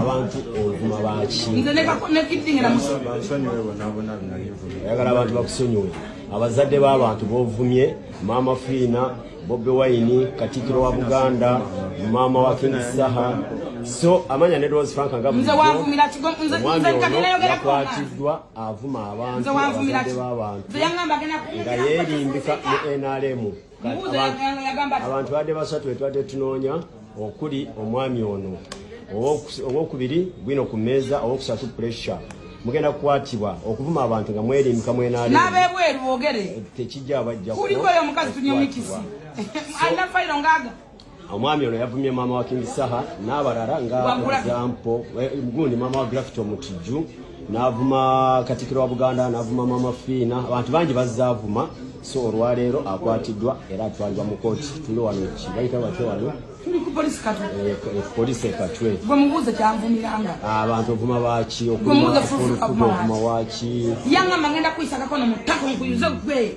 abantu ovuma baki ayagala abantu bakusonyiwe abazadde b'abantu bovumye maama fiina bobi wayini katikiro wa buganda maama wa king saha so amanya ne rose frank ngaomwamiyakwatiddwa avuma abantu abazadde b'abantu nga yerimbika mu nrm abantu badde basatu betwadde tunoonya okuli omwami ono owokubiri gwino ku mmeeza owokusatu puresha mugenda kukwatibwa okuvuma abantu nga mwerimbika mwenalnabebweru bogere tekijja bajja kuliko oyo omukazi tunyomikisi anafayiro ngaga omwami ono yavumye maama wa King Saha n'abalala nga example eh, gundi maama wa Gravity Omutijju n'avuma Katikkiro wa Buganda n'avuma maama Fiina abantu bangi bazaavuma so olwaleero akwatiddwa era atwalibwa mu kooti tuli wano ki bayita batya wano tuli ku polisi katwe eh, eh, polisi ekatwe gwe mubuuze kyanvumiranga ah, abantu ovuma baaki okuuma waki yangamba ngenda kuyisakako no mu ttaka nkuyuze gwe